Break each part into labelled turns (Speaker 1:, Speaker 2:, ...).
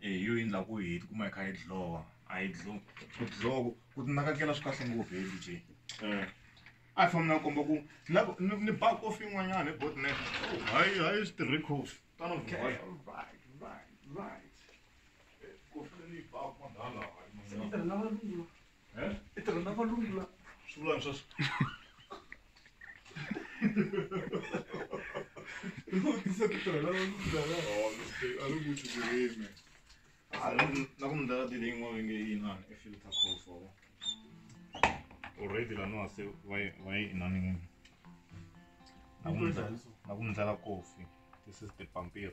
Speaker 1: e hi yo yini la ku hi tikuma hi kha hi dlhowa a hi dlo ku dloko ku tinakekela swi kahle ngopfu hi dj a hi fambi na komba ku ni ba kofi yin'wanyana hi botne hayi hayi swi tirhi kofi tano kofi leyi ba kwandala Eh? I tirha na valungu la swivulani swa swi vutisa ku tirha na valungu lava Oh, mistake. A ri ku ti tirheni. Ah, na ku- na ku mi ndlela dile yin'wana va nge yi inani i filter call for already laniwa se va yi va yi inani n'wini na ku mi ndlela- na ku mi ndlela kofi this is the pampiri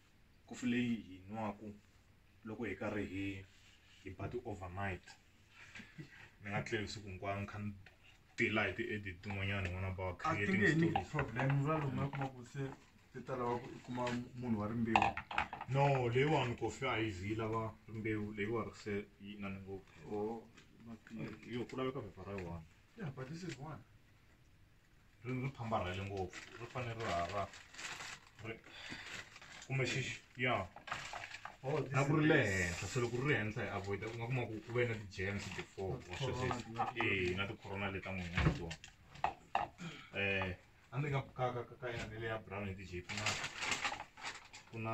Speaker 1: Kofi leyi hi yi nwaku loko hi karhi hi hi ba ti-over night ni nga tleli siku hinkwaro ni kha ni tila hi ti-edit tin'wanyani n'wana ba wa a ti nge he ni creating problem ra lomu na kuma ku se ti ta lava ku i kuma munhu wa rimbewu no leyiwani kofi a yi zi yi lava rimbewu leyiwa ri se yi inani ngopfu or yo ku laveka phepha ra yi one yeah but this is one ri ri phambarhele ngopfu ri fanele ri hara ri kumbe xixi ya oh, na ku ri le henhla se loko ri ri henhla hi avoida u nga kuma ku ku ve na ti-germs before or swesweswi e na ti-corona leti ta n'wina na tona um a ndzi nga bukaka ka ka yona leya brown hi ti-jp na ku na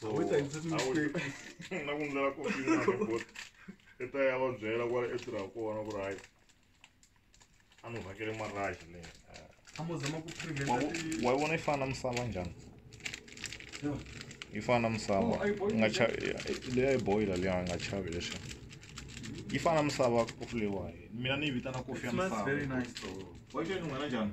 Speaker 1: so I wish I did mistake. Na ku ndlela ko fina ko bot. Eta ya va byela ku ri etirha kona ku ri hayi. A ni vhakele marashi le. A mo zama ku prevent. Wa vona yi fana misava njhani? Yi fana misava. Nga cha le ya boiler le nga chavi leswi. Yi fana misava ku flewa. Mina ni yi vitana kofi ya misava. It smells very nice though. Wa yi xo yi nun'hela njhani?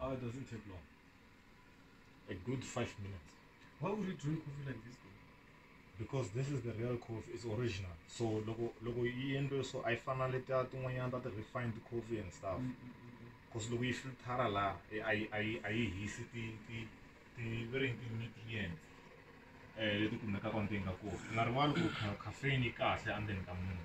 Speaker 1: Ah, it doesn't take long. A good five minutes. Why would you drink coffee like this? Though? Because this is the real coffee. It's original. So logo logo yendo so I finally ta tin'wanyana ta the refined coffee and stuff. Mm, mm, mm, mm. Because logo yi filtara la I I I I hisi ti ti ti very ti nutrients. Eh leti kumekaka ndzeni ka coffee. Nga rivali ku ca- caffeine yi kahle endzeni ka munhu.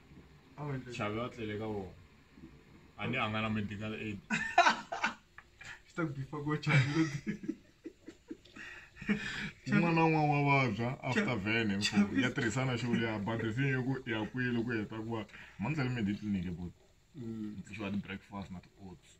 Speaker 1: Chavi a tlele ka vona. A ni a nga na medical aid. Swi ta ku bifa ko chavi. un'wana na un'wana wa vabya after vene ya tirhisana xo leya badrifini yo ku ya kwihi loko u heta ku va mani tale meditliniki but mm. xiwa ti-breakfast na ti-oats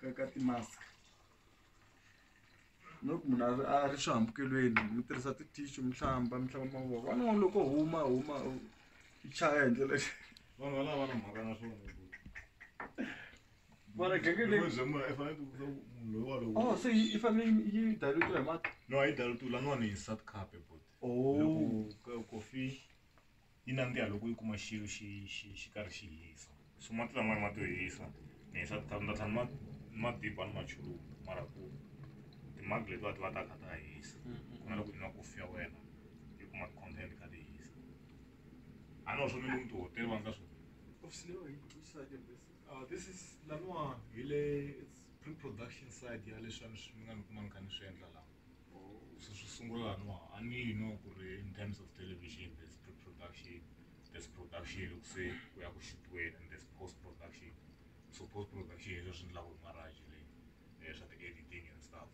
Speaker 1: ka ka ti-mask no ku munhu a ri a ri swihambukelweni mi tirhisa ti-tissue mi hlamba mi hlamba mavoko wani n'wana loko huma huma u i chaya hi ndlela vanhu va lava na mhaka na swona Mara genge leyi- bya munhu i fanele ku munhu loyi walowo oh se yi yi fanele yi- yi dilutiwa hi mati no a yi dali tu laniwani hi sat cup bot Oh. kofi yi nandziha loko yi kuma xilo xi xi xi karhi xi hisa so mati lamaya ma to hisa ni hisa ti ni ta tlhela ni ma ni ma diba ni machuluka mara ku timagi letiwa ti va ta kha ta hisa ku na loko yi nwa kofi ya wena yi kuma ti-content kha ti hisa a ni swo ni lomu tihotela va nga swi Uh, this is laniwa hi le pre-production side ya leswi a ni swi nga ni kuma ni kha ni swi endla laha swi sungula laha no a ni yi no ku ri in terms of television there's pre-production there's production loko se ku ya ku xutiweni and there's post production so post production hi leswi endlaka hi marriage leyi eh, swa ti-editing and stuff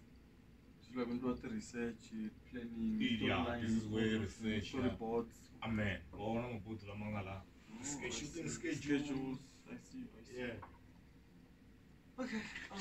Speaker 1: swi lava endliwa ti-research planning Yeah, this is where research, yeah. reports amen wa wona mabuti lama nga la Ske- shooting schedules schedules i see i see yeah okay um,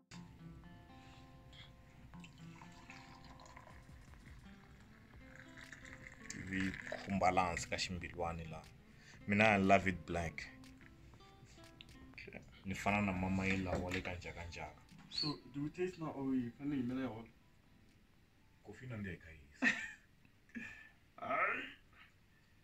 Speaker 1: vi khumba laha hansi ka ximbilwani laha mina i love it black ni fana na mama yi lawa le ka njhakanjhaka so do you taste na or yi fanele yi mela yona kofi na ndeka yisa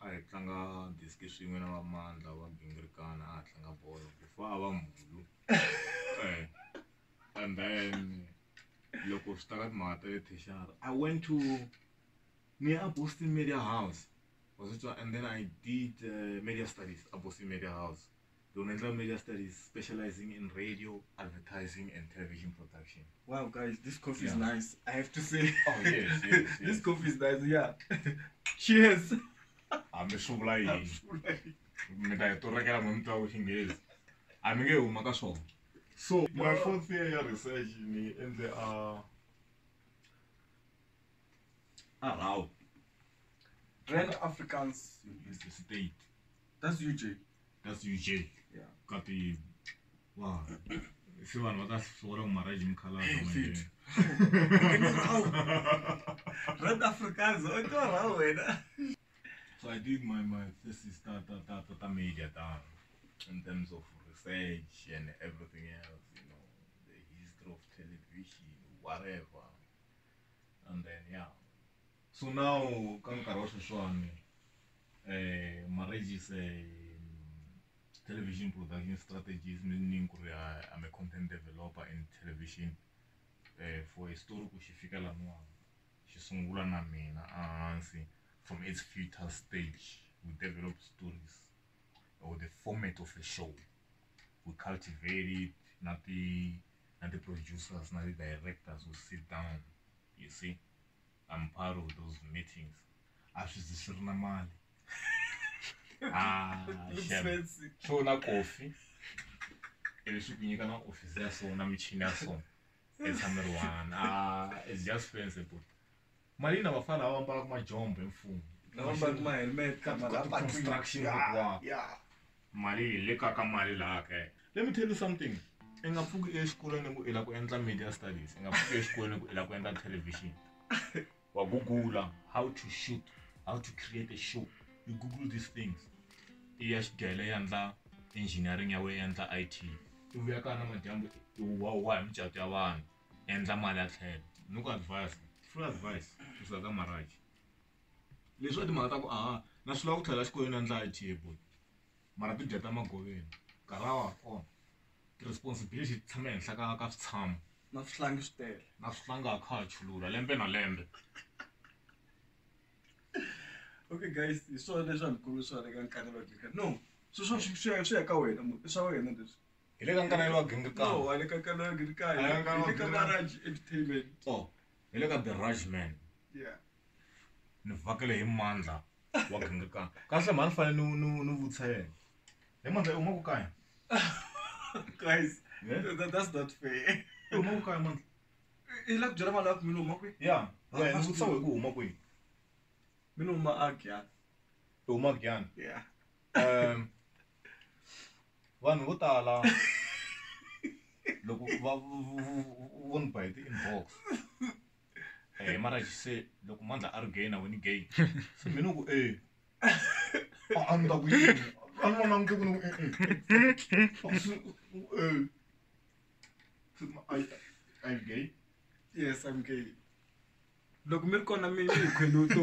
Speaker 1: a hi tlanga disk swin'we na va mandla wa gingirikana a ha tlanga bolo before a va mhulu and then loko swi ta ka timhaka ta le thexara i went to ni ya a boston media house wa swi twa and then i did media studies a boston media house Ndzi nga endla media studies specializing in radio advertising and television production. Wow guys this coffee yeah. is nice I have to say. Oh yes yes. yes. this coffee is nice yeah. Cheers. Hambi swi vula yini. Mi ta yi torekela mi mi twa ku xinghezi. A mi nge huma ka swona. So my fourth year ya research ni endle a uh, Arau. Grand Afrikaans State. That's UJ. That's UJ. Yeah. Kati. Wow. Se vanhu va ta sola ku marriage mukhalabye manje. Red Africans, o to ra wena. So I did my my thesis ta ta ta ta, ta media ta in terms of research and everything else, you know, the history of television, whatever. And then yeah, So now ka nkarhi wa sweswiwani marriages television production strategies meaning ku ri I'm a content developer in television for a story ku xi fika laniwani xi sungula na mina a hansi from its future stage we develop stories or the format of a show we cultivate it na ti na ti-producers na ti-directors we sit down you see. I'm part of those meetings. A swi zi swi ri na mali. Ah, shem. Swo na coffee. Ivi swi ku nyika na office ya so na michini ya so. Etshameri one. Ah, it's just fancy but. Mali na vafana lava ambalaka majombo hi mfumo. Lava ambalaka ma helmet ka ma construction. Yeah. mali yi le ka ka mali laha kaya let me tell you something i nga pfuki exikolweni ku i la ku endla media studies i nga pfuki exikolweni ku i la ku endla television wa gugula how to shoot how to create a show you google these things i ya xidele ya ndla engineering ya wena ya ndla i t i vuya ka na madyambu i wa wa hi micato ya vanhu endla mali ya tlhela ni ku advise free advice kusuka ka maraji Leswiwa i timhaka ta ku a na swi lava ku tlhelela xikolweni a ni dlaya table mara ti dya ta magoveni nkarhi a wa ha ri kona ti-responsibility ti tshama ehenhla ka ka switshamo na swihlangi swi tele na swihlangi a kha ha chulula lembe na lembe okay guys hi swona leswi a ni khome swona eka nkarhi no swilo swa swi ya swi ya ka wena i swa wena leswi hi le ka nkarhi wa gingikani wa le ka nkarhi wa gingikani hi le ka entertainment o hi le ka the right man yeah. ni vhakele hi mandla wa gingakana kahle mhani fanele ni ni ni vutisa yena hi mandla u maku kaya guys Yeah. that, that's not fair u maku kaya mandla i la ku byela vanhu aku mina huma kwi ya Ah, wena ni vutisa we ku huma kwihi mina huma agya u huma kuyani yeah um vanhu vo tala loko va vo ni ba hi ti-inbox eh mara she said loko mandla a ri gay na wena gay se mina ku eh a ni ta ku yini a ni vona nge ku ni I'm gay. Yes, I'm gay. Loko mi ri kona mi yi khwenuto.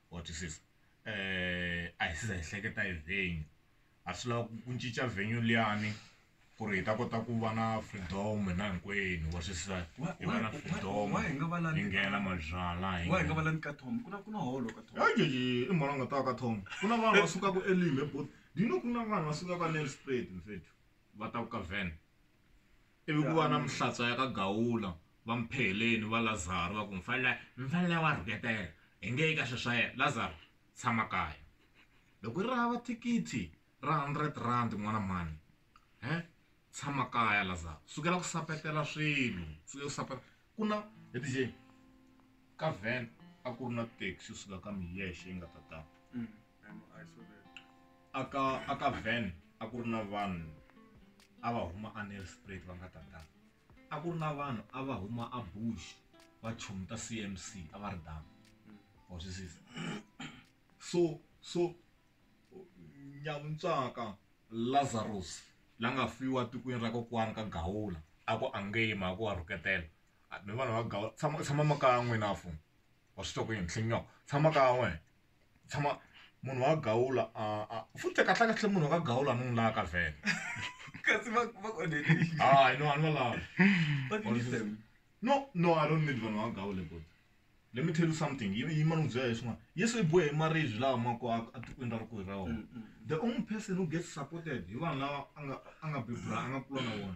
Speaker 1: wa twisisa a hi se za hi hleketa hi venue a swi lava ku cinca venue liyani ku ri hi ta kota ku va na freedom hina hinkwenu wa twisisa hi va na freedom hi nghena mabyalwa hi nga va lani ka Tom ku na ku na holo ka Tom heyi i mhani a nga ta ka Tom ku na vanhu va sukaka eLimbe but do you know ku na vanhu va sukaka Nelspruit mfethu va ta ku ka Van. Ivi ku va na mihlatsa ya ka Gawula, va Mpheheleni, va Lazaro, va ku, Mfanela, mfanela wa rhuketela, hi nge yi ka swilo swa yena. Lazaro, tshama kaya. Loko yi ri hava thikithi ra hundred rand n'wana mhani, he, tshama kaya Lazaro. Sukela ku sapetela swilo, sukela ku sapetela. Ku na, he DJ, ka van a ku ri na taxi yi suka ka Miyexe yi nga ta tano. aka aka van a ku ri na vanhu a va huma anelsprit va nga tatana a ku ri na vanhu a va huma a bush va chomi ta cmc a va ri dama wa swi sisa so so nyavuntswaka lazarus la nga fiwa tikweni ra kokwani ka gawula a ku angeyima a ku wa rhuketela mi vanhu va gawula tshama tshama makaya n'wina fo wa swi twa ku yini nhlinyoko tshama kaya n'wina tshama munhu wa gawula futhi kahlekahle munhu wa ka gawula ni n'wi laha ka vhele kasi va va ku onhele yini? hayi no a ni va lavi Va ku yini, Sam? no no i don't need vanhu va gawule but let me tell you something yi yi ma ni n'wi byela hi swin'wana yesu i bohe hi maribye lawa ma ko a- etikweni ra rikulu ra wona the only person who gets supported hi vanhu lava a nga a nga bebula a nga kula na vona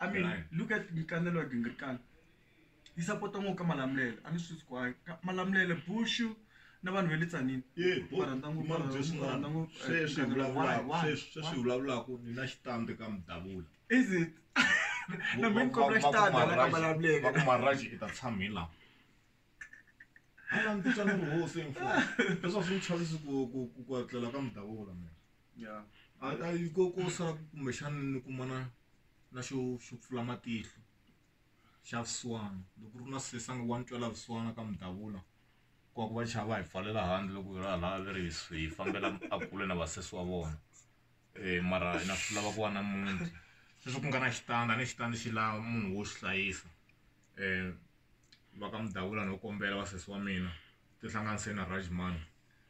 Speaker 1: I mean, Right. look at nkanelo ya gingirikana yi sapota ngopfu ka malamulelo a ni swi swi kwayo Ka- malamulelo bushu na vanhu va le tsanini ye bo Va rhandza ngopfu- mara va byeswi rhandza mani ngopfu, eh, sweswi hi nkanelo. vulavulaka Why? Why? sweswi sweswi hi Why? vulavulaka ni na xitambi ka mudavula is it na mina kombela xitandi hala ka malamulelo vakumaraji i ta tshamela ala ni titwa ni ri hosi info leswaku swi ni chavisi ku ku- ku ku atlela ka mudavula mina ya a a yi ko ko sala kumbexana ni kumana na xo xo pfula matihlo xa vusiwana loko ri na sesangi wa ni twela vusiwana ka mudavula ku va ku va chava hi pfalela handle loko hi ra laha leri hi hi fambela a kule na vasesi wa vona um mara hina swi lava ku va na muti sweswi ku nga na xitandi a ni xitandi xi lava munhu wo xi hlayisa um va ka mudavula no kombela vasesi wa mina tihlanganise na rajman